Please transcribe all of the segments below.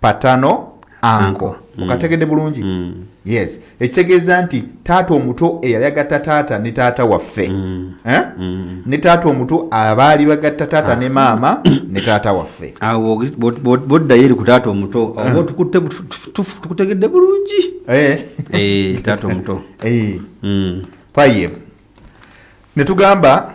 patano anko mm. okategedde bulungi mm. yes ekitegeeza nti taata omuto eyali agatta taata ne taata waffe mm. eh? ne taata omuto abaali bagatta taata ne ah. maama ne taata waffe ah, boddayo eri ku taata omuto ah. oba tukutegedde bulungi eh. Eh, taata omuto tayeb ne tugamba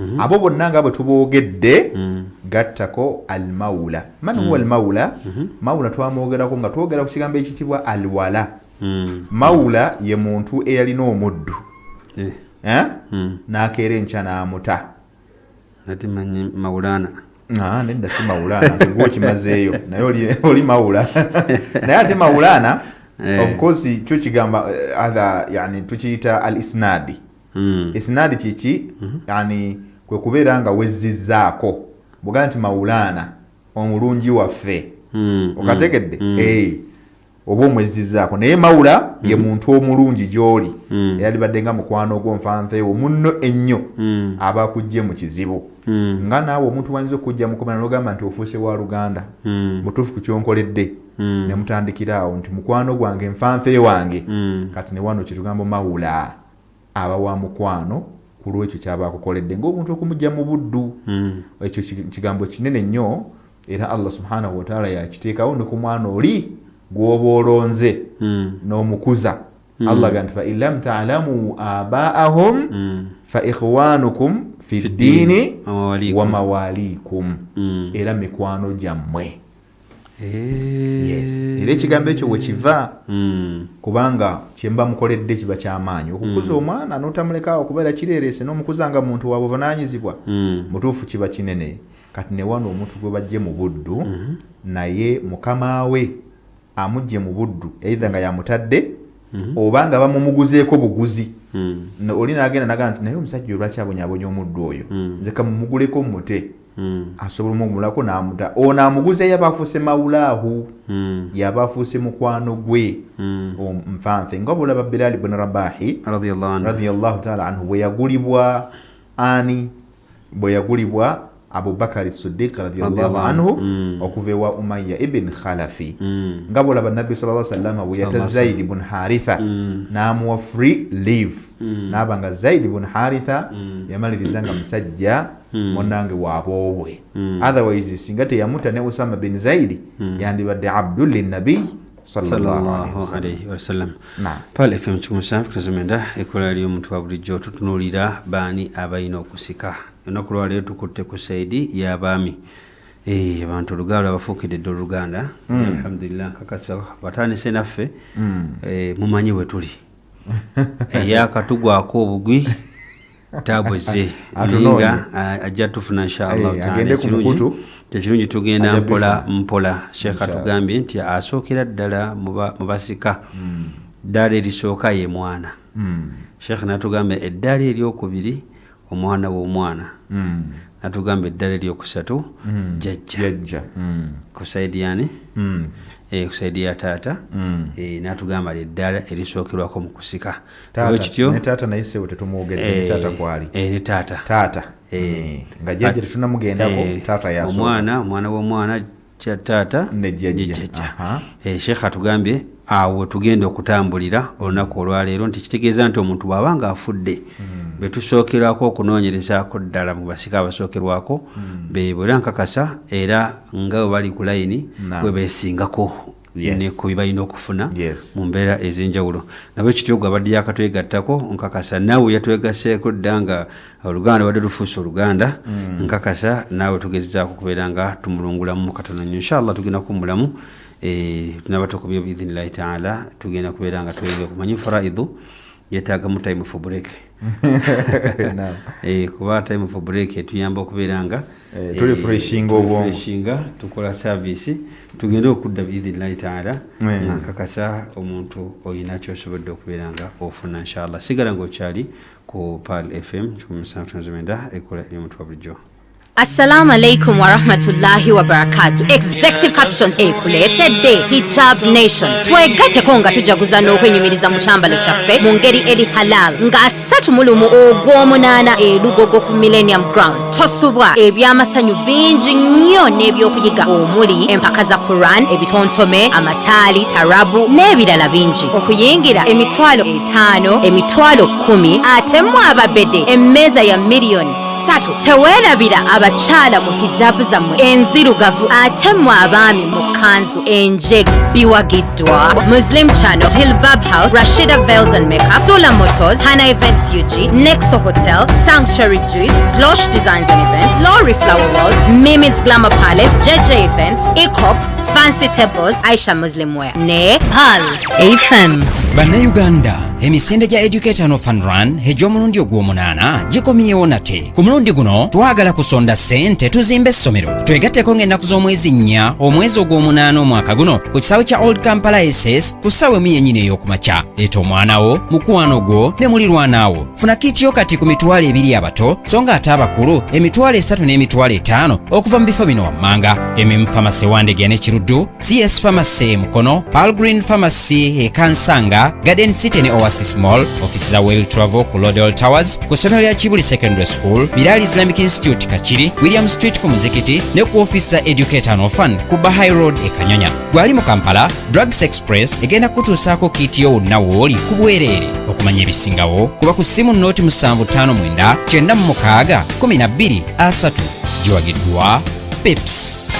Mm-hmm. abo bonna nga bwe tuboogedde mm. gattako almaula man huwa mm. almaula mm-hmm. maula twamwogerako nga twogera ku kigambo ekitibwa alwala mm. maula ye muntu eyalina omuddu eh. Eh? n'akeera enkya n'amuta ah, nedda si maulana gwe okimazeeyo naye oli maula naye ate maulana eh. of course kyo kigamba tukiyita al isnadi mm. isinaadi kiki mm -hmm. yani kwe kubeera nga wezzizzaako buga nti mawulaana omulungi waffe mm, mm, okategedde mm. hey. Eh, oba omwezzizaako naye mawula mm -hmm. ye mhm. muntu omulungi gy'oli mm. eyalibadde nga mukwano ogwo nfanfeewo munno ennyo mm. aba akujje mu kizibu mm. nga naawe omuntu wayinza okujja mukomana nogamba nti ofuuse wa luganda mm. mutuufu ku kyonkoledde mm. ne mutandikira awo nti mukwano gwange nfanfee wange mm. kati ne wano kitugambo mawula aba wa mukwano ku lw'ekyo ky'aba akukoledde ng'omuntu okumuggya mu buddu. Hmm. Ekyo kigambo kinene nnyo era Allah subhanahu wataala yakiteekawo ne ku mwana oli gw'oba olonze hmm. n'omukuza. Hmm. Allah agamba nti fain lam taalamu abaahum fa ikhwanukum fi ddiini wa mawaaliikum era mikwano gyammwe. yes era ekigambo ekyo wekiva hmm. kubanga kyemba mukoledde kiba kyamaanyi okukuza hmm. omwana notamulekaawo kubeera kireerese nomukuza nga muntu wa buvunanyizibwa hmm. mutuufu kiba kinene kati newano omuntu gwe bajje mu buddu naye mukama we amujje mu buddu eitha nga yamutadde oba nga bamumuguzeeko buguzi oli nagenda naga nti naye omusajja olwaki abonyabonya omuddu oyo nze kamumuguleko mute mm. asobola omugumulako namuta ono amuguza yaba afuuse maulaahu mm. yaba afuuse mukwano gwe mm. nfanfe nga bulaba bilali bun rabahi radiallahu taala anhu bweyagulibwa ani bweyagulibwa abubakari sidik radiallahu anhu mm. okuva ewa umaya ibin khalafi mm. nga bulaba nabbi sala salama bweyata zaidi bun haritha mm. namuwa free live mm. naba nga zaidi bun haritha mm. yamaliriza nga musajja Hmm. munange waboobwe hmm. otherwise singa teyamuta ne usama bin zaidi hmm. yandibadde abdu linabiy fmkikumusafkazomenda ekola lyo omuntu wa bulijjo tutunulira baani abalina okusika enaku lwaleero tukutte ku saidi yabaami eh, abantu olugaalo abafuukidde dde oluganda alhamdulillah nkakasa batandise naffe eh, mumanyi wetuli eyakatugwako obugwi tabuze nayenga ajja tufuna inshallah eh, taala ekirungi tekirungi tugenda mpola mpola sheekha tugambye nti asookera ddala mu basika hmm. ddaala erisooka ye mwana hmm. sheekha natugambye eddaala eryokubiri omwana w'omwana mm. natugamba eddala eryokusatu mm. jajja mm. ku saidi yani mm. e, ku saidi ya taata mm. e, natugamba lyeddala erisookerwako mu kusika kityo taata naye sebo tetumwogedde e, taata kwali e, ne taata taata e, mm. nga jajja tetunamugendako e, taata yaso omwana omwana w'omwana kya taata ne jjajja eh, sheekh atugambye awo wetugenda okutambulira olunaku olwaleero nti kitegeeza nti omuntu bwaba nga afudde hmm. betusookerwako okunoonyerezaako ddala mu basika abasookerwako hmm. bebo era nkakasa era nga webali ku layini webeesingako yes. ne ku bibalina okufuna yes. mu mbeera ez'enjawulo nabwe kityo gwe abadde yakatwegattako nkakasa naawe yatwegaseeko dda nga oluganda lubadde lufuusa oluganda mm. nkakasa naawe tugezezaako okubeera nga tumulungulamu katono nyo inshallah tugenda kuwumulamu e, eh, tunaba tukubyo biidhinillahi taala tugenda kubeera nga tweyongera kumanya faraidhu yetaagamu time for break eh, kuba time for break etuyamba okubeera nga eh, eh, tulifreshinga obwongo tukola service tugende okudda biidhinillahi taala nga nkakasa omuntu olina kyosobodde okubeera nga ofuna inshallah sigala ngaokyali ku pal fm 1 9 ekola eryomutwa bulijjo Assalamu alaikum wa rahmatullahi wa barakatuh. Executive caption ekuleetedde Hijab Nation. Twegateko nga tujaguza n'okwenyumiriza mu kyambalo kyaffe mu ngeri eri halal nga asatu mu lumu ogw'omunaana elugogo ku Millennium Grounds. Tosubwa eby'amasanyu bingi nnyo n'ebyokuyiga omuli empaka za Quran, ebitontome, amataali, tarabu n'ebirala bingi. Okuyingira emitwalo etaano, emitwalo kkumi ate mu ababede emmeeza ya miliyoni ssatu teweerabira abakyala mu hijabu zammwe enzirugavu ate mu abaami mu kanzu enjeru biwagiddwa muslim channel jilbab house rashida vels and makeup sula motors hana events ug nexo hotel sanctuary juice glosh designs and events lorry flower world mimi's glamour palace jj events ecop fancy tables aisha muslim wear ne pal fm bannayuganda emisinde gya educational fun run egy'omulundi ogw'omunaana gikomyewo nate ku mulundi guno twagala kusonda ssente tuzimba essomero twegatteko ng'ennaku z'omwezi nnya omwezi ogw'omunaana omwaka guno ku kisaawe kya old kampala ss ku ssaawa emu yennyini ey'okumakya leeta omwana wo mukwano gwo ne mulirwanaawo funa kiitiyo kati ku mitwalo ebiri abato so ng'ate abakulu emitwalo esatu n'emitwalo etaano okuva mu bifo bino wammanga MM Pharmacy Wandegeya ne Kiruddu, CS Pharmacy Mukono, Pearl Green Pharmacy e Kansanga, Garden City ne Oasis Mall, ofisi za Well Travel ku Lodel Towers, ku ssomero lya Kibuli Secondary School, Bilal Islamic Institute Kakiri, William Street ku muzikiti ne ku ofisi za Educator and Orphan ku Bahai Road e Kanyanya. Gwali mu Kampala, Drugs Express egenda kutuusaako kiiti yo wonna wooli ku bwereere. Okumanya ebisingawo, kuba ku ssimu nnooti musanvu ttaano mwenda kyenda mu mukaaga kkumi na bbiri asatu giwagiddwa pips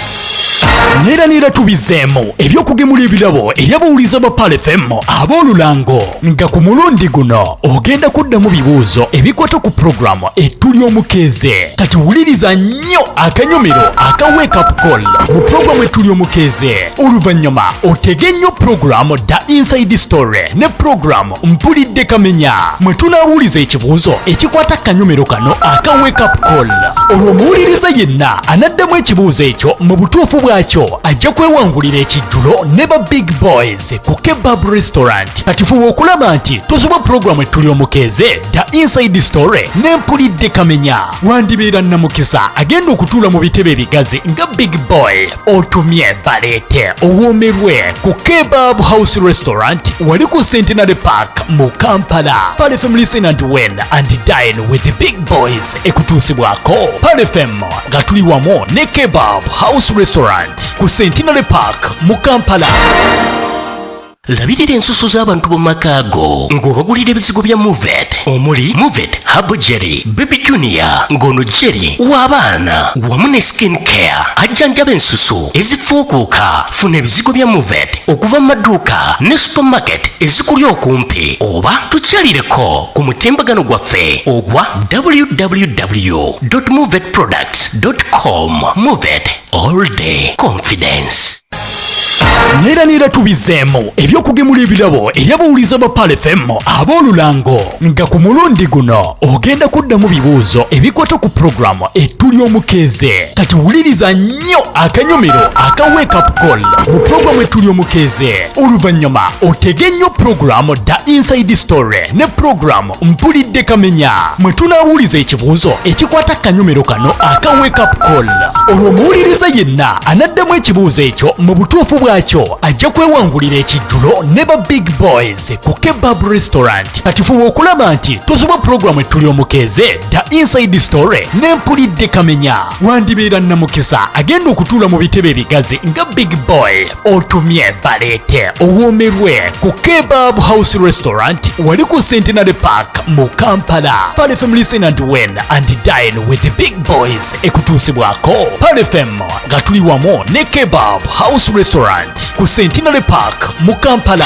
neera neera tubizeemu ebyokugemula ebirabo eri abawuliza ba palefm ab'olulango nga ku mulundi guno ogenda kuddamu bibuuzo ebikwata ku pulogulaamu ettuli omukeeze kati wuliriza nnyo akanyomero aka wekapcol mu pulogulaamu ettuli omukeeze oluvannyuma otege nnyo pulogulaamu da inside story ne pulogulaamu mpulidde kamenya mwe tunaawuliza ekibuuzo ekikwata kanyomero kano aka wakeup call olwo omuwuliriza yenna anaddamu ekibuuzo ekyo mu butuufu bwakyo ajja kwewangulira ekijjulo ne ba big boys ku kebab restaurant kati fuba okulaba nti tosoba pulogulaamu ettuli omukeeze da inside story ne mpulidde kamenya wandibeera namukisa agenda okutuula mu bitebe ebigazi nga big boy otumye baleete owoomerwe ku kebab house restaurant wali ku centenary park mu kampala palifem listen and win and dine with the big boys ekutuusibwako palifem nga tuli wamu ne kebab house restaurant ku centenary park mu kampala labirira ensusu z'abantu mu maka ago ng'obagulira ebizigo bya movet omuli movet habo jerry baby junior ng'ono jerry w'abaana wamu ne skin care ajjanjaba ensusu ezifuukuuka funa ebizigo bya movet okuva mu maduuka ne supermarket ezikuli okumpi oba tukyalireko ku mutimbagano gwaffe ogwa www movet products com movet all day confidence neera neera tubizeemu ebyokugemula ebirabo eri abawuliza ba palefm ab'olulango nga ku mulundi guno ogenda kuddamu bibuuzo ebikwata ku pulogulaamu ettu ly'omukeeze kati wuliriza nnyo akanyomero aka wekapcol mu pulogulaamu ettu ly'omukeeze oluvannyuma otege nnyo pulogulaamu da inside story ne pulogulaamu mpulidde kamenya mwe tunaawuliza ekibuuzo ekikwata kanyomero kano aka wakeup call olwo omuwuliriza yenna anaddamu ekibuuzo ekyo mu butuufu bwakyo ajja kwewangulira ekijjulo ne ba big boys ku kebab restaurant kati fuba okulaba nti tosoba pulogulaamu ettuli omukeeze da inside story ne mpulidde kamenya wandibeera namukisa agenda okutuula mu bitebe ebigazi nga big boy otumye baleete owoomerwe ku kebab house restaurant wali ku centenary park mu kampala palifem listen and win and dine with the big boys ekutuusibwako palifem nga tuli wamu ne kebab house restaurant ku centenary park mu kampala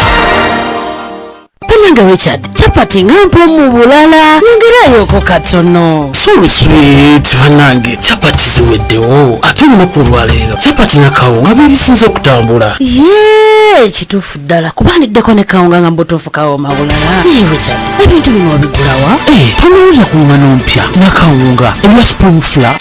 Banange Richard, chapati nga mpo mu bulala nyongeraayoko katono. Sorry sweet, banange chapati ziweddewo ate olunaku olwaleero chapati na kawunga bye bisinze okutambula. Yee, kituufu ddala kuba ndiddeko ne kawunga nga mbutuufu kawoma bulala. Naye Richard, ebintu bino obigulawa? Eh, tonnawulira ku ng'ano mpya na kawunga ebya spring flour.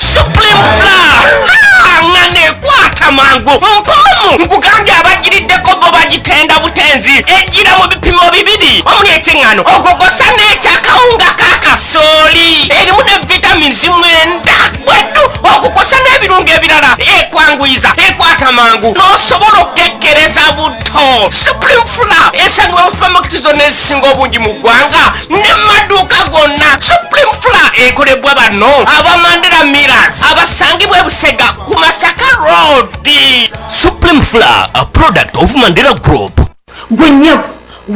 Nga nekwata mangu mpomu nkugambye abagiriddeko bo bagitenda tenzi ejjira mu bipimo bibiri omuli ekyeŋŋano ogogosa n'ekyakawunga ka kasooli erimu ne vitamins mwenda bweddu okukosa n'ebirungo ebirala ekwanguyiza ekwata mangu n'osobola okukekkereza buto supreme fula esangibwa mu supamaketi zonna ezisinga obungi mu ggwanga ne maduuka gonna supreme fula ekolebwa bano abamandera miras abasangibwa ebusega ku masaka road supreme flour a product of mandela group gwe nyabo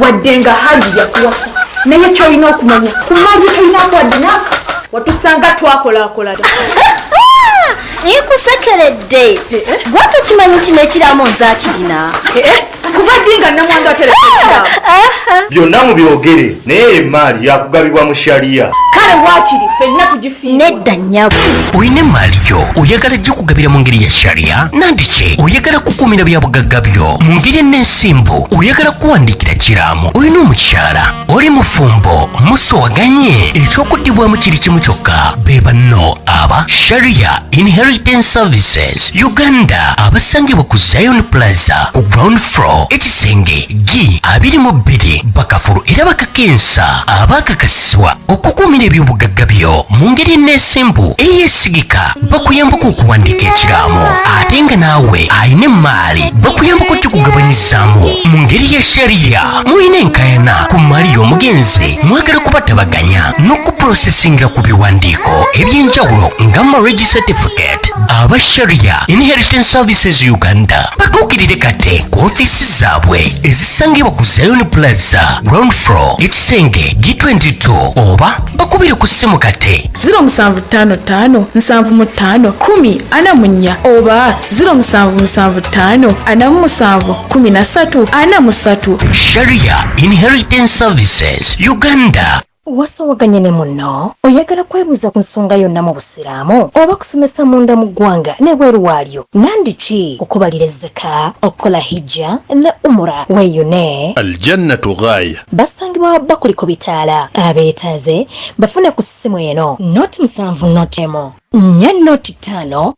wadde nga hajji yakuwasa naye kyolina okumanya kumaji tolinako wadde naka watusanga twakolakola naye kusekeredde eh, eh. gwe tokimanyi nti nekiramu nze akirina eh, kuva ddi nga namwandu ateresa ekiraabo byonna mubyogere naye emaali yakugabibwa mu shariya kale wakiri fenna tugifiirwa nedda nyabo olina emaali gyo oyagala gikugabira mu ngeri ya shariya nandiki oyagala kukuumira byabugagga byo mu ngeri en'ensimbu oyagala kuwandiikira kiraamo olina omukyala oli mufumbo musowaganye ekyokuddibwamu kiri kimu kyokka be banno aba sharia inheritance services uganda abasangibwa ku zion plaza ku ground floor ekisenge g 22 bakafulu era bakakensa abakakasibwa okukuumira ebyobugagga byo mu ngeri eneesimbu eyesigika bakuyambako okuwandiika ekiraamo ate nga naawe alina emmaali bakuyambako okugabanyizaamu mu ngeri ya sharia mulina enkayana ku mali y'omugenzi mwagala kubatabaganya n'okuprosesingira ku biwandiiko eby'enjawulo nga marriage certificate aba sharia inheritance services uganda batuukirire kate ku ofiisi zaabwe ezisangibwa ku zion plaza ground floor ekisenge g22 oba bakubire ku ssimu kate 0755 75 10 ana munya oba 0775 sharia inheritance services uganda wasowaganye ne munno oyagala kwebuuza ku nsonga yonna mu busiraamu oba kusomesa munda mu ggwanga nebweru waalyo nandiki okubalira ezzeka okukola hijja ne umura weyune aljannatu ghaya basangibwa wabba kuliko bitaala abeetaaze bafune ku ssimu eno noti musanvu noti emu nnya noti ttaano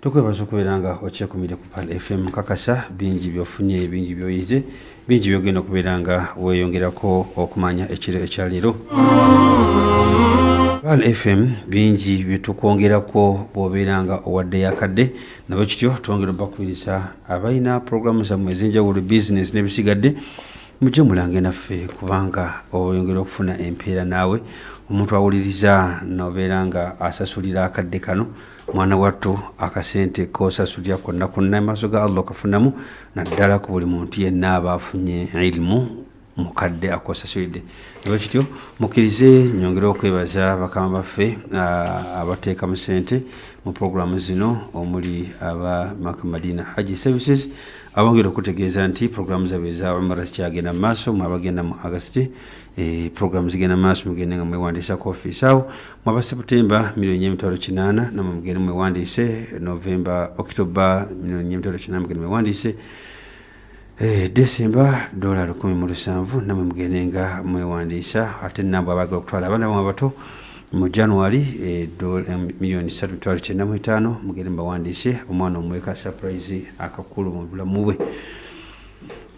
tukwebaza okubeera nga okyekumire ku pal fm kakasa bingi byofunye bingi byoyize bingi byogenda okubeera nga weyongerako okumanya ekiro ekyaleero pal fm bingi byetukwongerako bwobeera nga owadde yakadde nabwe kityo twongera obakubiriza abalina puroguramu zammwe ezenjawulo bizinesi nebisigadde mujje mulange naffe kubanga oyongera okufuna empeera naawe omuntu awuliriza nobeera nga asasulira akadde kano mwana wattu akasente kosasulira konna konna maaso ga allah okafunamu naddala ku buli muntu yenna aba afunye ilimu mukadde akosasulidde ewa kityo mukkirize nyongere okwebaza bakama baffe abateeka mu sente mu puroguramu zino omuli aba makamadina haji services abongera okutegeeza nti puroguramu zabwe eza umara zikyagenda mu maaso mwe abagenda mu agasiti Eh, program zigenda maaso mugende nga mwewandiisa ku offiisi awo mwaba seputemba milioni emitwalo kinaana namwe mugende mwewandiise novemba okitoba milioni emitwalo kinaana mugende mwewandiise eh, desemba dola lukumi mu lusanvu namwe mugende nga mwewandiisa ate nabwe abagala okutwala abaana bamwe abato mu january eh, milioni satu mitwalo kyenda mu etaano mugende mubawandiise omwana omweka surprise akakulu mu bulamu bwe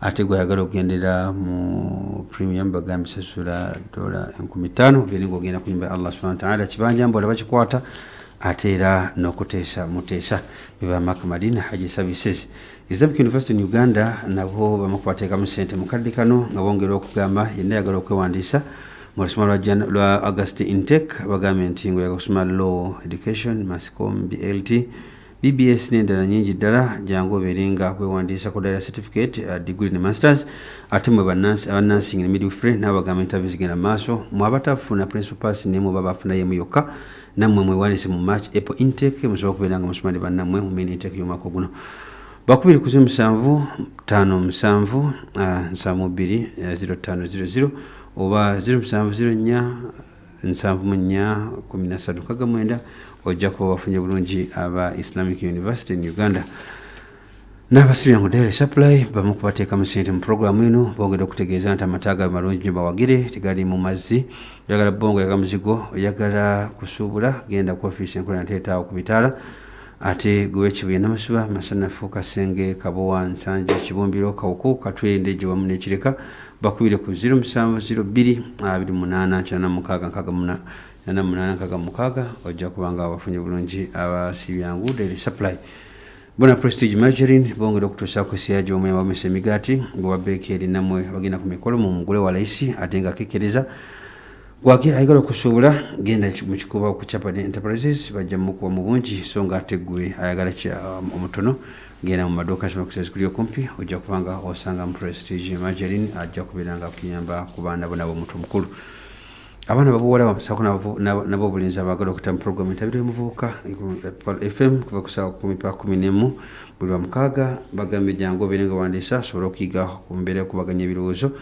ate gweyagala okugendera mu premium bagamba sasula dola enkumi ttaano beri ngaogenda ku nyumba ya allah subhana wataala kibanja mbu olaba kikwata ate era n'okuteesa muteesa beba mak madina haji services islamic university in uganda nabo bamukubateekamu sente mukadde kano nga bongera okugamba yenna yagala okwewandiisa mu lusoma lwa august intake bagambye nti ngaoyaga okusoma law education mascom blt BBS n'endala nyingi ddala jangu obeere nga wewandiisa ku dira certificate uh, degree ne masters ate mwe abanansing ne midwifery n'abagamba interview zigenda maaso mwe abatafuna principal pass naye mwe baba afuna yemu yokka nammwe mwewandiise mu march apple intake musobola okubeera nga musoma ne bannammwe mu main intake y'omwaka guno bakubiri kuzi musanvu tano musanvu uh, nsamu bbiri uh, ziro tano ziro ziro oba ziro musanvu ziro nnya nsanvu mu nnya kumi na ssatu kaga mwenda ojja kuba wafunye bulungi aba islamic university in uganda n'abasibya ngu daily supply bamu kubateekamu sente mu pulogulaamu eno bongera okutegeeza nti amata gabe malungi nyo bawagire tegali mu mazzi oyagala bongo yaga muzigo oyagala kusuubula genda ku ofiisi enkola nateetaawo ku bitaala Ate gwe wekibuye namasuba masanafu kasenge kabowa nsanje kibumbiro kawuku katwe ndeje wamu nekireka bakubire ku 07028896 ojja kubanga abafunye bulungi abasibyangu daily supply bona prestige margarine bongera okutuusaako esiya gy'omwema bamesa emigaati gwewa beekeeri namwe bagenda ku mikolo mu mugule wa layisi ate nga kekereza Wagira ayagala okusuubula genda mu kikuba okucapa ne enterprises bajja mukuwa mu bungi so nga ate gwe ayagala um, omutono genda mu maduuka kimakusezi kuli okumpi ojja kuba nga osanga mu prestige margarin ajja kubeera nga akuyamba ku baana bo nabo omuntu omukulu abaana babuwala bamusako nabo obulinzi abagala okuta mu programu entabiro yomuvubuka fm kuva kusawa kumi pa kumi nemu buli lwamukaaga bagambye jangu obeere nga wandiisa asobole okuyiga ku mbeera yokubaganya ebirowoozo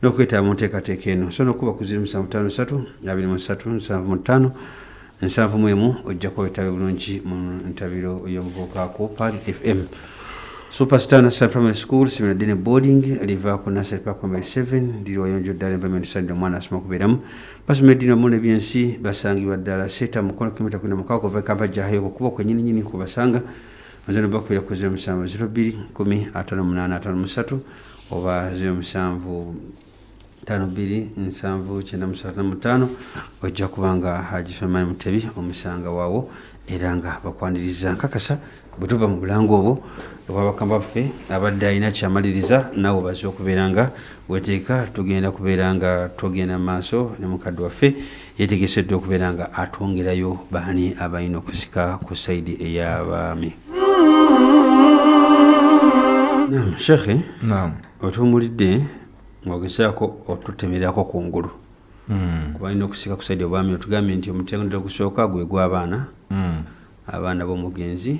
n'okwetaba mu nteekateeka eno osobola okuba ku 0753 nsanvu mu emu ojja kuba wetabe bulungi mu ntabiro y'omuvubuka ku pal fm superstar nassar primary school simira dine boarding liva ku nassar park primary 7 liri wayonjo ddala environment side omwana asoma okubeeramu basoma eddiini wamu nebyensi basangibwa ddala seeta mukono kilomita kwina mukaaga kuva ekampa jahayo okukuba kwenyininyini kubasanga mazano bakubeera ku 07 2 1 5 5 3 oba 07579795 ojja kuba nga haji sulemani mutebi omusanga waawo era nga bakwaniriza nkakasa bwe tuva mu bulango obwo obwabakama baffe abadde alina kyamaliriza naawe obaze okubeera nga weteeka tugenda kubeera nga tugenda mu maaso ne mukadde waffe Yategese dda okubeera nga atwongerayo baani abalina okusika ku sayidi ey'abaami. Naam shekhe, naam otuwumulidde ng'ogezaako otutemererako ku ngulu hmm. kuba alina okusika ku sayidi obwami otugambye nti omutendera ogusooka gwe gw'abaana hmm. abaana b'omugenzi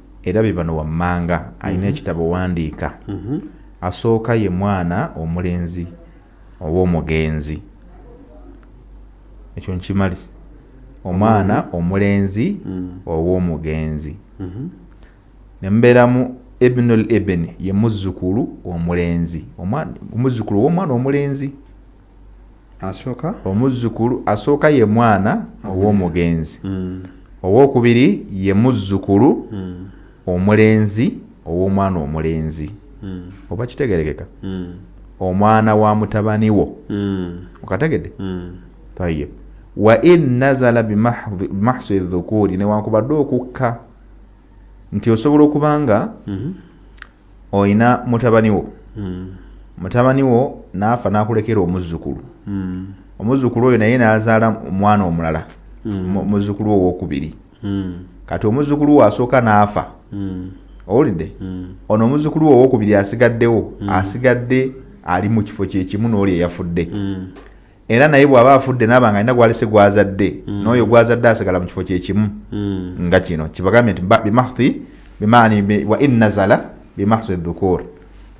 era bibano wammanga alina mhm. ekitabo wandiika mhm. asooka ye mwana omulenzi oba omugenzi ekyo nkimali omwana mhm. omulenzi oba omugenzi nemubeeramu ibnul ibn ye muzzukulu omulenzi omuzzukulu owomwana omulenzi asooka omuzzukulu asooka ye mwana ow'omugenzi mm. ow'okubiri ye muzzukulu mm. omulenzi ow'omwana omulenzi mm. oba kitegerekeka mm. omwana wa mutabani wo mm. okategede mm. tayib wa in nazala bimahsi dhukuri newankubadde okukka nti osobola okuba nga mm -hmm. olina mutabani wo hmm. mutabani wo naafa nakulekera omuzzukulu hmm. omuzzukulu oyo naye nazaala omwana omulala hmm. muzzukulu owokubiri kati omuzzukulu wo asooka naafa owulidde ono omuzzukulu wo owokubiri asigaddewo asigadde ali mu kifo kyekimu nooli eyafudde era naye bw'aba afudde naaba nga alina gwalese gwazadde mm. n'oyo gwazadde asigala mu kifo kyekimu mm. nga kino kibagambye nti bimahthi bimaani wa in nazala bimahthi dhukur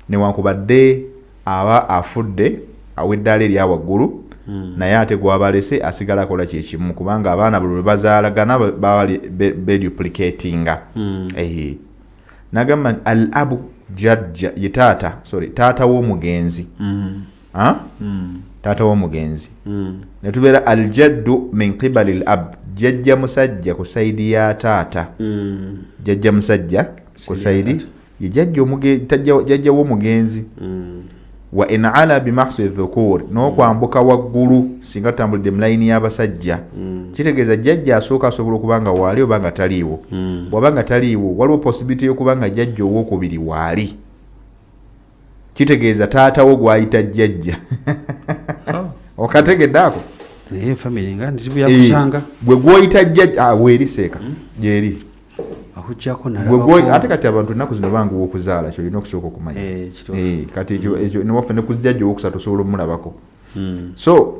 newankubadde aba afudde aweddaala erya waggulu mm. naye ate gwabalese asigala akola kyekimu kubanga abaana buli lwebazaalagana baba beduplicatinga mm. ehe nagamba al abu jajja ye taata sorry taata w'omugenzi mm. taata womugenzi hmm. netubeera aljaddu min qibali l ab jajja musajja ku saidi ya taata hmm. jajja musajja ku saidi ye jajja womugenzi hmm. wa in ala bimaksi dhukur nokwambuka waggulu singa tutambulidde mulayini y'abasajja kitegeeza jajja asooka asobola okuba nga waali oba nga taliiwo bwaba nga taliiwo waliwo posibiliti yokuba nga jajja owokubiri waali kitegeeza taata wo gwayita jjajja oh. okategedde ako gwe gwoyita jjajja ah, weeri seeka hmm? gyeri ate kati abantu ennaku zino banguwa okuzaala kyolina okusooka okumanya eh, eh, kati hmm. newaffe ne kujjajja owokusatu osobola omulabako hmm. so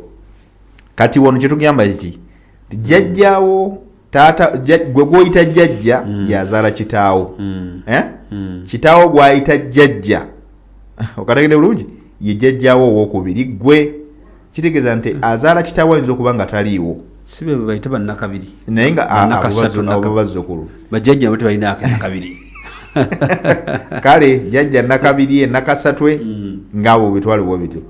kati wano kyetugamba ki jjajjawo taata gwe gwoyita jjajja mm. yazaala kitaawo mm. eh? mm. kitaawo gwayita jjajja okategede bulungi ye jjajjawo owokubiri gwe kitegeeza nti mm. azaala kitaawo ayinza okuba nga taliiwo sibebaita banakabiri naye ngaabazukulu bajjajja bo tebalina akanakabiri kale jjajja nakabiri enakasatwe mm. ngaabo bitwalibwa bityo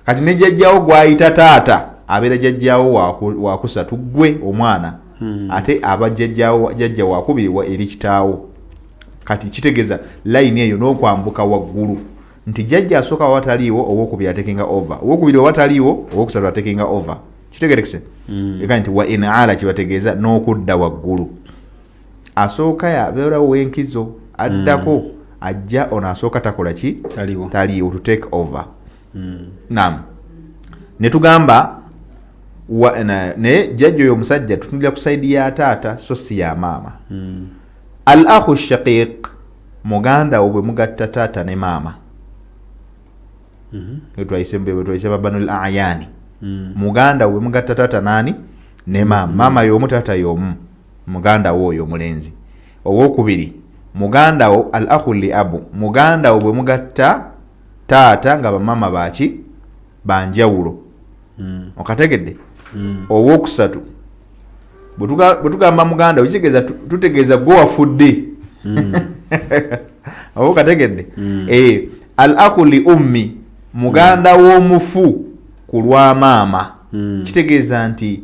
kati ne jajjawo gwayita taata abeera jajjawo wakusatu gwe omwana hmm. ate aba jajja wakubiri eri kitaawo kati kitegeeza layini eyo n'okwambuka waggulu nti jajja asooka wawataliiwo owokubiri atekenga over owokubiri wawataliiwo owokusatu atekenga over kitegerekese hmm. eka nti wa inaala kibategeeza n'okudda waggulu asooka yabeerawo wenkizo addako hmm. ajja ono asooka takola ki taliiwo to take over mm. nam netugamba naye jjajja oyo omusajja tutunulira ku saidi ya taata so si ya maama mm. al ahu shaqiq muganda wo bwe mugatta taata ne maama wetwayise mm-hmm. wetwayise babanul ayani mm. muganda we mugatta taata nani ne maama mm. maama yomu taata yomu muganda wo oyo omulenzi owokubiri muganda wo al ahu li abu muganda wo bwe mugatta taata nga bamama baki banjawulo mm. okategedde mm. owokusatu bwetugamba muganda kitegeeza tutegeeza gwe wafudde mm. oba okategedde mm. eh, al aku li ummi muganda mm. w'omufu ku lwa maama mm. kitegeeza nti